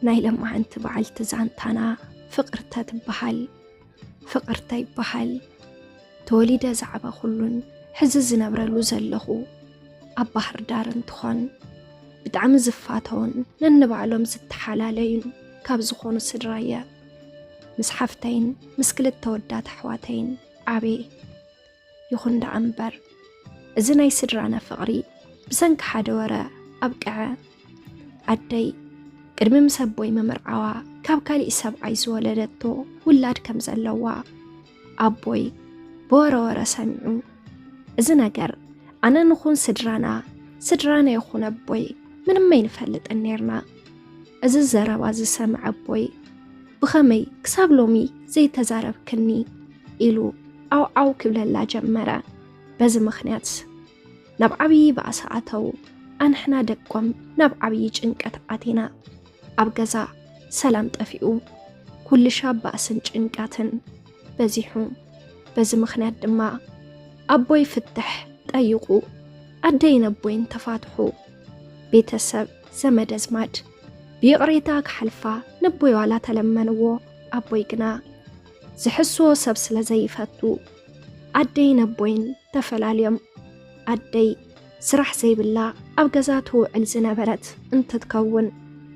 ናይ ለማዓንቲ በዓልቲ ዛንታና ፍቅርተ ትበሃል ፍቅርተ ይበሃል ተወሊደ ዝዓበኹሉን ሕዚ ዝነብረሉ ዘለኹ ኣብ ባህር ዳር እንትኾን ብጣዕሚ ዝፋተውን ነንባዕሎም ዝተሓላለዩን ካብ ዝኾኑ ስድራ እየ ምስ ሓፍተይን ምስ ክልተ ወዳት ኣሕዋተይን ዓበየ ይኹን ደኣ እምበር እዚ ናይ ስድራና ፍቕሪ ብሰንኪ ሓደ ወረ ኣብቅዐ። ኣደይ ቅድሚ ምስ ኣቦይ ምምርዓዋ ካብ ካሊእ ሰብኣይ ዝወለደቶ ውላድ ከም ዘለዋ ኣቦይ ብወረወረ ሰሚዑ። እዚ ነገር ኣነ ንኹን ስድራና ስድራና ይኹን ኣቦይ ምንም ኣይንፈልጥን ነርና። እዚ ዘረባ ዝሰምዐ ኣቦይ ብኸመይ ክሳብ ሎሚ ዘይተዛረብክኒ ኢሉ ዓውዓው ክብለላ ጀመረ። በዚ ምኽንያት ናብ ዓብዪ ባእሲ ኣተው። ኣንሕና ደቆም ናብ ዓብዪ ጭንቀት ኣቲና። ኣብ ገዛ ሰላም ጠፊኡ፣ ኩልሻ ባእስን ጭንቀትን በዚሑ። በዚ ምኽንያት ድማ ኣቦይ ፍትሕ ጠይቑ፣ ኣደይን ኣቦይን ተፋትሑ። ቤተሰብ ዘመድ ኣዝማድ ብይቕሬታ ክሓልፋ ነቦይ ዋላ ተለመንዎ ኣቦይ ግና ዝሕስዎ ሰብ ስለ ዘይፈቱ ኣደይ ነቦይን ተፈላልዮም ኣደይ ስራሕ ዘይብላ ኣብ ገዛ ትውዕል ዝነበረት እንትትከውን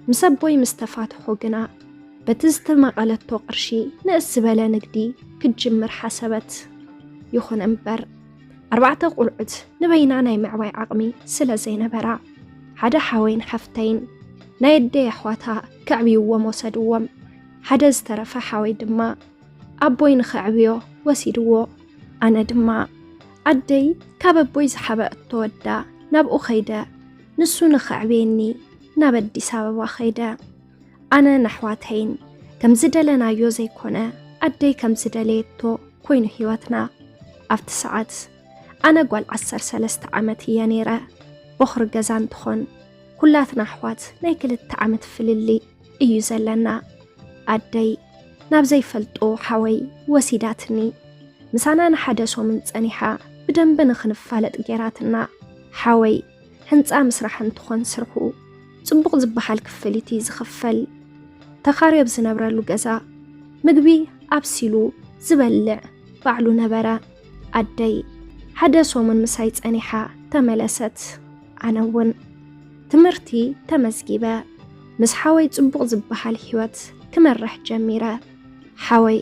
ምስ ኣቦይ ምስ ተፋትሑ ግና በቲ ዝተመቐለቶ ቅርሺ ንእስ ዝበለ ንግዲ ክትጅምር ሓሰበት። ይኹን እምበር ኣርባዕተ ቁልዑት ንበይና ናይ ምዕባይ ዓቕሚ ስለ ዘይነበራ ሓደ ሓወይን ሓፍተይን ናይ ኣደይ ኣሕዋታ ከዕብይዎም ወሰድዎም። ሓደ ዝተረፈ ሓወይ ድማ ኣቦይ ንኸዕብዮ ወሲድዎ። ኣነ ድማ ኣደይ ካብ ኣቦይ ዝሓበአቶ ወዳ ናብኡ ኸይደ ንሱ ንኸዕብየኒ ናብ ኣዲስ ኣበባ ኸይደ። ኣነን ኣሕዋተይን ከም ዝደለናዮ ዘይኮነ ኣደይ ከም ዝደለየቶ ኮይኑ ህይወትና ኣብቲ ሰዓት ኣነ ጓል ዓሰርተ ሰለስተ ዓመት እየ ነይረ ቦኽሪ ገዛ እንትኾን ኩላትና ኣሕዋት ናይ ክልተ ዓመት ፍልሊ እዩ ዘለና ኣደይ ናብ ዘይፈልጦ ሓወይ ወሲዳትኒ ምሳና ንሓደ ሶምን ጸኒሓ ብደንቢ ንኽንፋለጥ ጌራትና ሓወይ ህንፃ ምስራሕ እንትኾን ስርሑ ፅቡቕ ዝበሃል ክፍሊት እዩ ዝኽፈል። ተኻሪ ኣብ ዝነብረሉ ገዛ ምግቢ ኣብሲሉ ዝበልዕ ባዕሉ ነበረ። ኣደይ ሓደ ሰሙን ምሳይ ፀኒሓ ተመለሰት። ኣነ እውን ትምህርቲ ተመዝጊበ ምስ ሓወይ ፅቡቕ ዝበሃል ህይወት ክመርሕ ጀሚረ። ሓወይ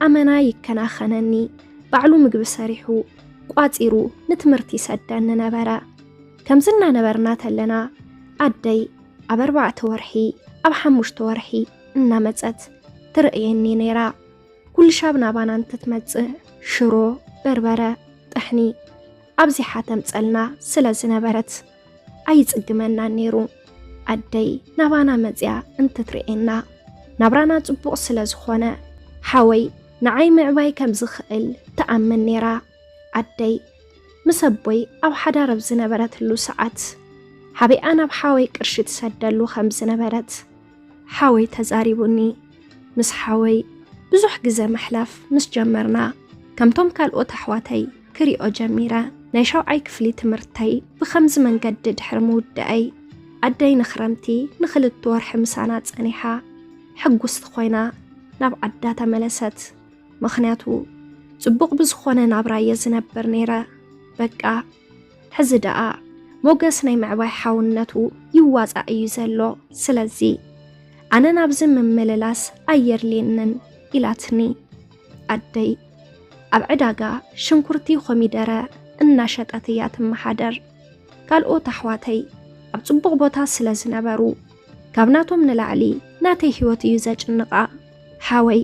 ኣመና ይከናኸነኒ፣ ባዕሉ ምግቢ ሰሪሑ ቋጺሩ ንትምህርቲ ይሰደኒ ነበረ ከምዚ እናነበርና ተለና ኣደይ ኣብ ኣርባዕተ ወርሒ ኣብ ሓሙሽተ ወርሒ እናመፀት ትርእየኒ ነይራ ኩልሻብ ናባና እንትትመፅእ ሽሮ በርበረ ጥሕኒ ኣብዚሓ ተምፀልና ስለ ዝነበረት ኣይጽግመናን ነይሩ ኣደይ ናባና መጽያ እንትትርእየና ናብራና ጽቡቕ ስለ ዝኾነ ሓወይ ንዓይ ምዕባይ ከም ዝኽእል ትኣምን ነይራ ኣደይ ምስ ኣቦይ ኣብ ሓዳር ኣብ ዝነበረትሉ ሰዓት ሓቢኣ ናብ ሓወይ ቅርሺ ትሰደሉ ከም ዝነበረት ሓወይ ተዛሪቡኒ። ምስ ሓወይ ብዙሕ ግዘ ምሕላፍ ምስ ጀመርና ከምቶም ካልኦት ኣሕዋተይ ክሪኦ ጀሚረ። ናይ ሻውዓይ ክፍሊ ትምህርተይ ብኸምዚ መንገዲ ድሕሪ ምውደኣይ ኣደይ ንክረምቲ ንክልት ወርሒ ምሳና ፀኒሓ ሕጉስቲ ኮይና ናብ ዓዳ ተመለሰት። ምክንያቱ ፅቡቕ ብዝኾነ ናብራ እየ ዝነብር ነይረ። በቃ ሕዚ ደኣ ሞገስ ናይ ምዕባይ ሓውነቱ ይዋጻእ እዩ ዘሎ፣ ስለዚ ኣነ ናብዚ ምምልላስ ኣየድልየንን ኢላትኒ ኣደይ። ኣብ ዕዳጋ ሽንኩርቲ ኮሚደረ እናሸጠት እያ ትመሓደር። ካልኦት ኣሕዋተይ ኣብ ጽቡቕ ቦታ ስለ ዝነበሩ ካብ ናቶም ንላዕሊ ናተይ ህይወት እዩ ዘጭንቓ። ሓወይ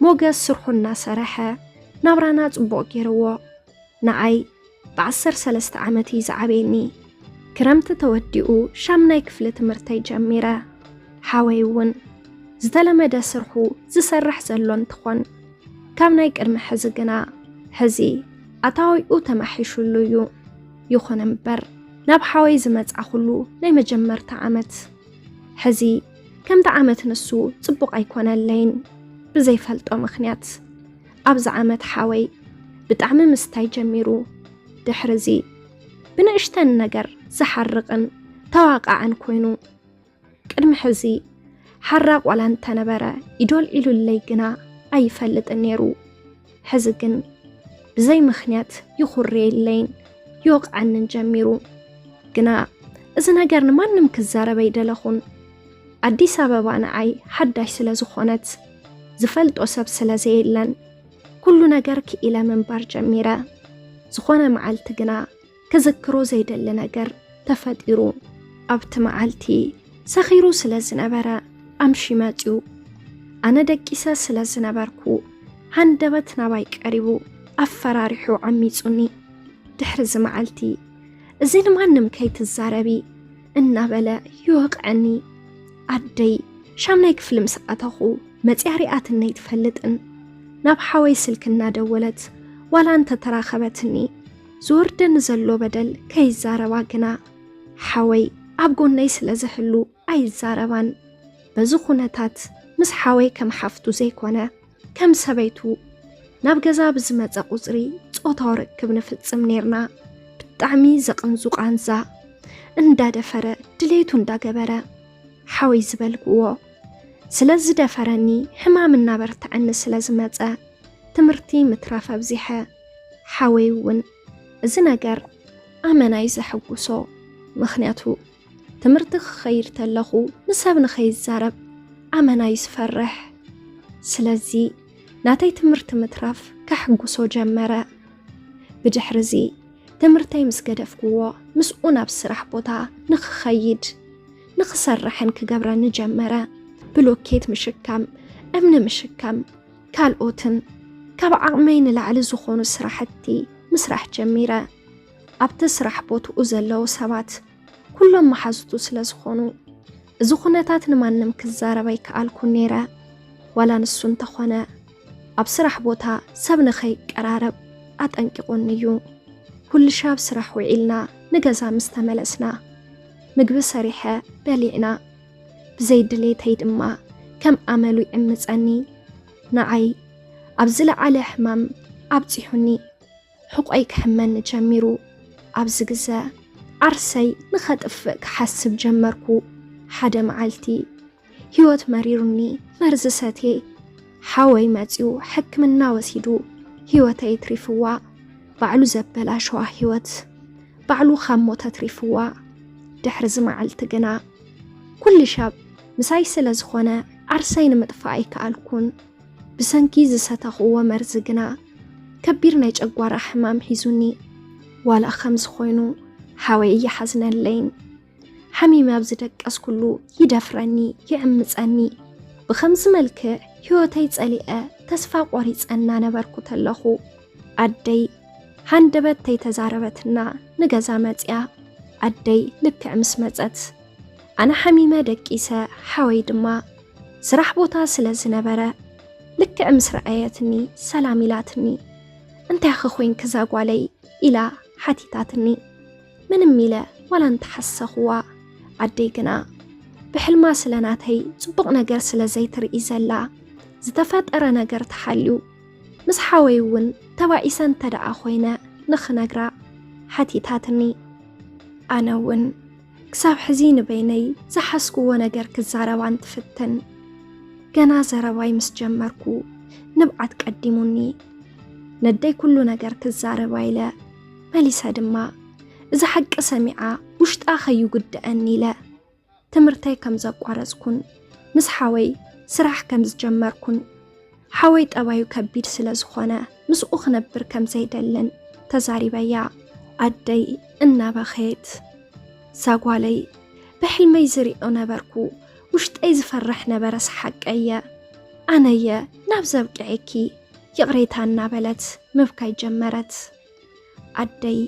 ሞገስ ስርሑ እናሰረሐ ናብራና ጽቡቕ ገይርዎ። ንኣይ ብዓሰርተ ሰለስተ ዓመት እዩ ዝዓበየኒ። ክረምቲ ተወዲኡ ሻምናይ ክፍሊ ትምህርተይ ጀሚረ። ሓወይ እውን ዝተለመደ ስርሑ ዝሰርሕ ዘሎ እንትኾን ካብ ናይ ቅድሚ ሕዚ ግና ሕዚ ኣታዊኡ ተማሒሹሉ እዩ። ይኹን እምበር ናብ ሓወይ ዝመጻኹሉ ናይ መጀመርታ ዓመት ሕዚ ከምቲ ዓመት ንሱ ጽቡቕ ኣይኮነለይን ብዘይፈልጦ ምኽንያት ኣብዚ ዓመት ሓወይ ብጣዕሚ ምስታይ ጀሚሩ ድሕርዚ ብንእሽተን ነገር ዝሓርቕን ተዋቃዕን ኮይኑ ቅድሚ ሕዚ ሓራ ቆላ እንተነበረ ኢዶል ኢሉለይ ግና ኣይፈልጥን ነይሩ። ሕዚ ግን ብዘይ ምክንያት ይኹርየለይን ይወቕዓንን ጀሚሩ። ግና እዚ ነገር ንማንም ክዛረብ ኣይደለኹን። ኣዲስ ኣበባ ንዓይ ሓዳሽ ስለ ዝኾነት ዝፈልጦ ሰብ ስለ ዘየለን ኩሉ ነገር ክኢለ ምንባር ጀሚረ። ዝኾነ መዓልቲ ግና ክዝክሮ ዘይደሊ ነገር ተፈጢሩ። ኣብቲ መዓልቲ ሰኺሩ ስለ ዝነበረ ኣምሺ መፅዩ ኣነ ደቂሰ ስለ ዝነበርኩ ሃንደበት ናባይ ቀሪቡ ኣፈራሪሑ ዓሚፁኒ። ድሕሪ እዚ መዓልቲ እዚ ንማንም ከይትዛረቢ እናበለ ይወቕዐኒ። ኣደይ ሻምናይ ክፍሊ ምስ ኣተኹ መፅያ ሪኣትኒ ኣይትፈልጥን። ናብ ሓወይ ስልኪ እናደወለት ዋላ እንተተራኸበትኒ ዝወርደኒ ዘሎ በደል ከይዛረባ ግና ሓወይ ኣብ ጎነይ ስለ ዝህሉ ኣይዛረባን። በዚ ኩነታት ምስ ሓወይ ከም ሓፍቱ ዘይኮነ ከም ሰበይቱ ናብ ገዛ ብዝመፀ ቁፅሪ ፆታዊ ርክብ ንፍፅም ነርና ብጣዕሚ ዘቕንዙ ቃንዛ እንዳደፈረ ድሌቱ እንዳገበረ ሓወይ ዝበልክዎ ስለ ዝደፈረኒ ሕማም እናበርትዐኒ ስለ ዝመፀ ትምህርቲ ምትራፍ ኣብዚሐ ሓወይ እውን እዚ ነገር ኣመናይ ዘሐጉሶ ምክንያቱ ትምህርቲ ክኸይድ ተለኹ ንሰብ ንኸይዛረብ ኣመና እዩ ዝፈርሕ። ስለዚ ናተይ ትምህርቲ ምትራፍ ከሕጉሶ ጀመረ። ብድሕሪ እዚ ትምህርተይ ምስ ገደፍክዎ ምስኡ ናብ ስራሕ ቦታ ንክኸይድ ንክሰርሕን ክገብረኒ ጀመረ። ብሎኬት ምሽካም፣ እምኒ ምሽካም፣ ካልኦትን ካብ ዓቕመይ ንላዕሊ ዝኾኑ ስራሕቲ ምስራሕ ጀሚረ። ኣብቲ ስራሕ ቦትኡ ዘለዉ ሰባት ኩሎም መሓዙቱ ስለ ዝኾኑ እዚ ኩነታት ንማንም ክዛረብ ኣይከኣልኩን ነይረ። ዋላ ንሱ እንተኾነ ኣብ ስራሕ ቦታ ሰብ ንኸይቀራረብ ኣጠንቂቑኒ እዩ። ኩልሻ ኣብ ስራሕ ውዒልና ንገዛ ምስ ተመለስና ምግቢ ሰሪሐ በሊዕና ብዘይ ድሌተይ ድማ ከም ኣመሉ ይዕምፀኒ። ንዓይ ኣብ ዝለዓለ ሕማም ኣብፂሑኒ። ሕቆይ ክሕመኒ ጀሚሩ። ኣብዚ ግዘ ዓርሰይ ንኸጥፍእ ክሓስብ ጀመርኩ። ሓደ መዓልቲ ህይወት መሪሩኒ መርዚ ሰትየ። ሓወይ መፅዩ ሕክምና ወሲዱ ህይወተይ ትሪፍዋ። ባዕሉ ዘበላሸዋ ህይወት ባዕሉ ካብ ሞት ኣትሪፍዋ። ድሕሪ እዚ መዓልቲ ግና ኩሉ ሻብ ምሳይ ስለ ዝኾነ ዓርሰይ ንምጥፋእ ኣይከኣልኩን። ብሰንኪ ዝሰተኽዎ መርዚ ግና ከቢር ናይ ጨጓራ ሕማም ሒዙኒ። ዋላ ከምዚ ኮይኑ ሓወይ እይሓዝነለይን። ሓሚመ ኣብ ዝደቀስኩሉ ይደፍረኒ፣ ይዕምፀኒ። ብኸምዚ መልክዕ ህይወተይ ፀሊዐ ተስፋ ቆሪፀ እናነበርኩ ተለኹ ኣደይ ሃንደበት ተይተዛረበትና ንገዛ መፅያ። ኣደይ ልክዕ ምስ መፀት ኣነ ሓሚመ ደቂሰ ሓወይ ድማ ስራሕ ቦታ ስለ ዝነበረ ልክዕ ምስ ረኣየትኒ ሰላም ኢላትኒ እንታይ ኸኮይን ክዛጓለይ ኢላ ሓቲታትኒ ምንም ኢለ ዋላ እንተሓሰኽዋ ኣደይ ግና ብሕልማ ስለ ናተይ ጽቡቕ ነገር ስለ ዘይትርኢ ዘላ ዝተፈጠረ ነገር ተሓልዩ ምስ ሓወይ እውን ተባኢሰ እንተ ደኣ ኾይነ ንኽነግራ ሓቲታትኒ ኣነ እውን ክሳብ ሕዚ ንበይነይ ዝሓስኩዎ ነገር ክዛረባ እንትፍትን ገና ዘረባይ ምስ ጀመርኩ ንብዓት ቀዲሙኒ ነደይ ኩሉ ነገር ክዛረባ ኢለ መሊሰ ድማ እዚ ሓቂ ሰሚዓ ውሽጣ ከይጉድአኒ ኢለ ትምህርተይ ከም ዘቋረፅኩን ምስ ሓወይ ስራሕ ከም ዝጀመርኩን ሓወይ ጠባዩ ከቢድ ስለ ዝኾነ ምስኡ ክነብር ከም ዘይደልን ተዛሪበያ ኣደይ እናበኸየት ሳጓለይ ብሕልመይ ዝሪኦ ነበርኩ ውሽጠይ ዝፈርሕ ነበረ ሰሓቀየ ኣነየ ናብ ዘብቅዐኪ ይቕሬታ እናበለት ምብካይ ጀመረት ኣደይ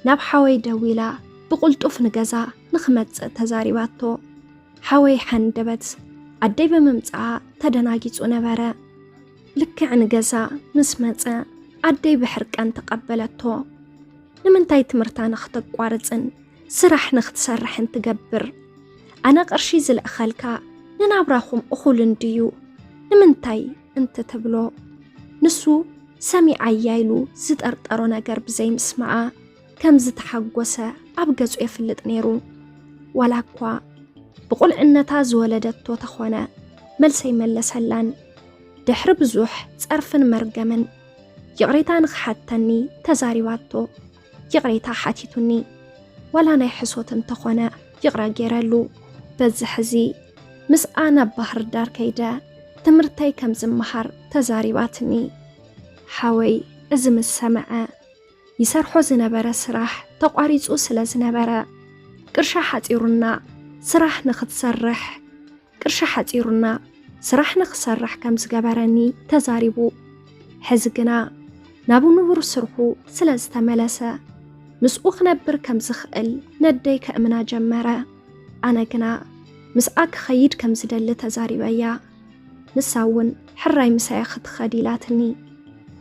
ናብ ሓወይ ደዊላ ብቕልጡፍ ንገዛ ንክመጽእ ተዛሪባቶ። ሓወይ ሓንደበት ኣደይ ብምምጽኣ ተደናጊጹ ነበረ። ልክዕ ንገዛ ምስ መጸ ኣደይ ብሕርቃን ተቐበለቶ። ንምንታይ ትምህርታ ንክተቋርጽን ስራሕ ንክትሰርሕን ትገብር? ኣነ ቅርሺ ዝልእኸልካ ንናብራኹም እኹል እንድዩ ንምንታይ እንተተብሎ ንሱ ሰሚዓያ ኢሉ ዝጠርጠሮ ነገር ብዘይምስማዓ ከም ዝተሓጎሰ ኣብ ገጹ የፍልጥ ነይሩ። ዋላ እኳ ብቑልዕነታ ዝወለደቶ ተኾነ መልሰይ መለሰላን ድሕሪ ብዙሕ ጸርፍን መርገምን ይቕሬታ ንኽሓተኒ ተዛሪባቶ። ይቕሬታ ሓቲቱኒ ዋላ ናይ ሕሶት እንተኾነ ይቕረ ገይረሉ በዚ ሕዚ ምስኣ ናብ ባህር ዳር ከይደ ትምህርተይ ከም ዝመሃር ተዛሪባትኒ ሓወይ እዚ ምስ ሰምዐ ይሰርሖ ዝነበረ ስራሕ ተቋሪፁ ስለ ዝነበረ ቅርሻ ሓፂሩና ስራሕ ንክትሰርሕ ቅርሺ ሓፂሩና ስራሕ ንክሰርሕ ከም ዝገበረኒ ተዛሪቡ። ሕዚ ግና ናብ ንቡር ስርሑ ስለ ዝተመለሰ ምስኡ ክነብር ከም ዝኽእል ነደይ ከእምና ጀመረ። ኣነ ግና ምስኣ ክኸይድ ከም ዝደሊ ተዛሪበያ። ንሳ እውን ሕራይ ምሳያ ክትኸድ ኢላትኒ።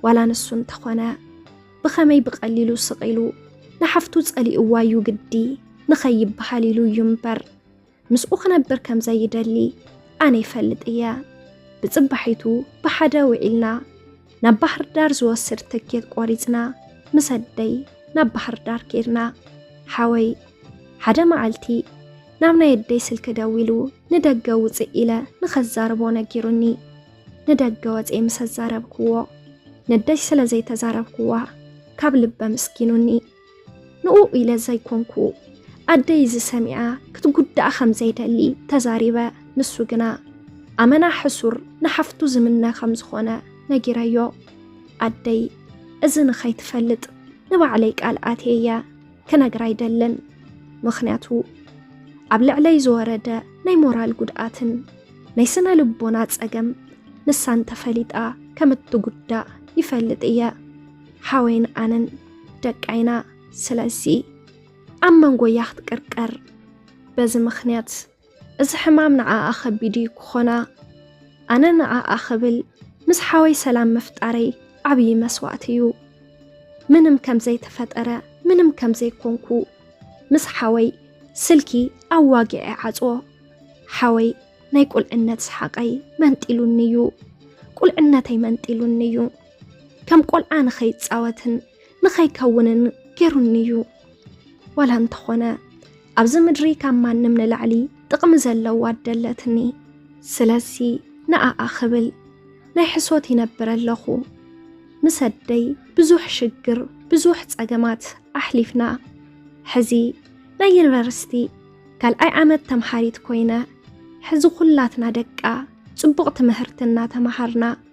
ዋላ ንሱ እንተኾነ ብኸመይ ብቐሊሉ ስቕ ኢሉ ንሓፍቱ ጸሊእዋ እዩ ግዲ ንኸይበሃል ኢሉ እዩ እምበር ምስኡ ክነብር ከም ዘይደሊ ኣነ ይፈልጥ እየ። ብፅባሒቱ ብሓደ ውዒልና ናብ ባህር ዳር ዝወስድ ትኬት ቆሪፅና ምስ ኣደይ ናብ ባህር ዳር ኬድና። ሓወይ ሓደ መዓልቲ ናብ ናይ ኣደይ ስልኪ ደዊሉ ንደገ ውፅእ ኢለ ንኸዛርቦ ነጊሩኒ። ንደገ ወፀ ምስ ኣዛረብክዎ ነደይ ስለ ዘይተዛረብክዋ ካብ ልበ ምስጊኑኒ። ንኡኡ ኢለ ዘይኮንኩ ኣደይ እዚ ሰሚኣ ክትጉዳእ ከም ዘይደሊ ተዛሪበ። ንሱ ግና ኣመና ሕሱር ንሓፍቱ ዝምነ ከም ዝኾነ ነጊረዮ። ኣደይ እዚ ንኸይትፈልጥ ንባዕለይ ቃል ኣትየ እየ ክነግራ ኣይደልን። ምኽንያቱ ኣብ ልዕለይ ዝወረደ ናይ ሞራል ጉድኣትን ናይ ስነ ልቦና ጸገም ንሳ እንተፈሊጣ ከም እትጉዳእ ይፈልጥ እየ። ሓወይን ኣነን ደቃ ኢና ስለዚ ኣብ መንጎያ ክትቅርቀር በዚ ምክንያት እዚ ሕማም ንዓኣ ከቢድ እዩ ክኾና ኣነ ንዓኣ ክብል ምስ ሓወይ ሰላም ምፍጣረይ ዓብዪ መስዋእቲ እዩ ምንም ከምዘይተፈጠረ ምንም ከምዘይኮንኩ ምስ ሓወይ ስልኪ ኣዋጊዐ ዓፅዎ ሓወይ ናይ ቁልዕነት ሰሓቀይ መንጢሉኒ እዩ ቁልዕነተይ መንጢሉኒ እዩ ከም ቆልዓ ንኸይጻወትን ንኸይከውንን ጌሩኒ እዩ ዋላ እንተኾነ ኣብዚ ምድሪ ካብ ማንም ንላዕሊ ጥቕሚ ዘለዋ ኣደለትኒ ስለዚ ንኣኣ ክብል ናይ ሕሶት ይነብረ ኣለኹ ምስ ኣደይ ብዙሕ ሽግር ብዙሕ ጸገማት ኣሕሊፍና ሕዚ ናይ ዩኒቨርሲቲ ካልኣይ ዓመት ተምሃሪት ኮይነ ሕዚ ኩላትና ደቃ ጽቡቕ ትምህርቲ እናተምሃርና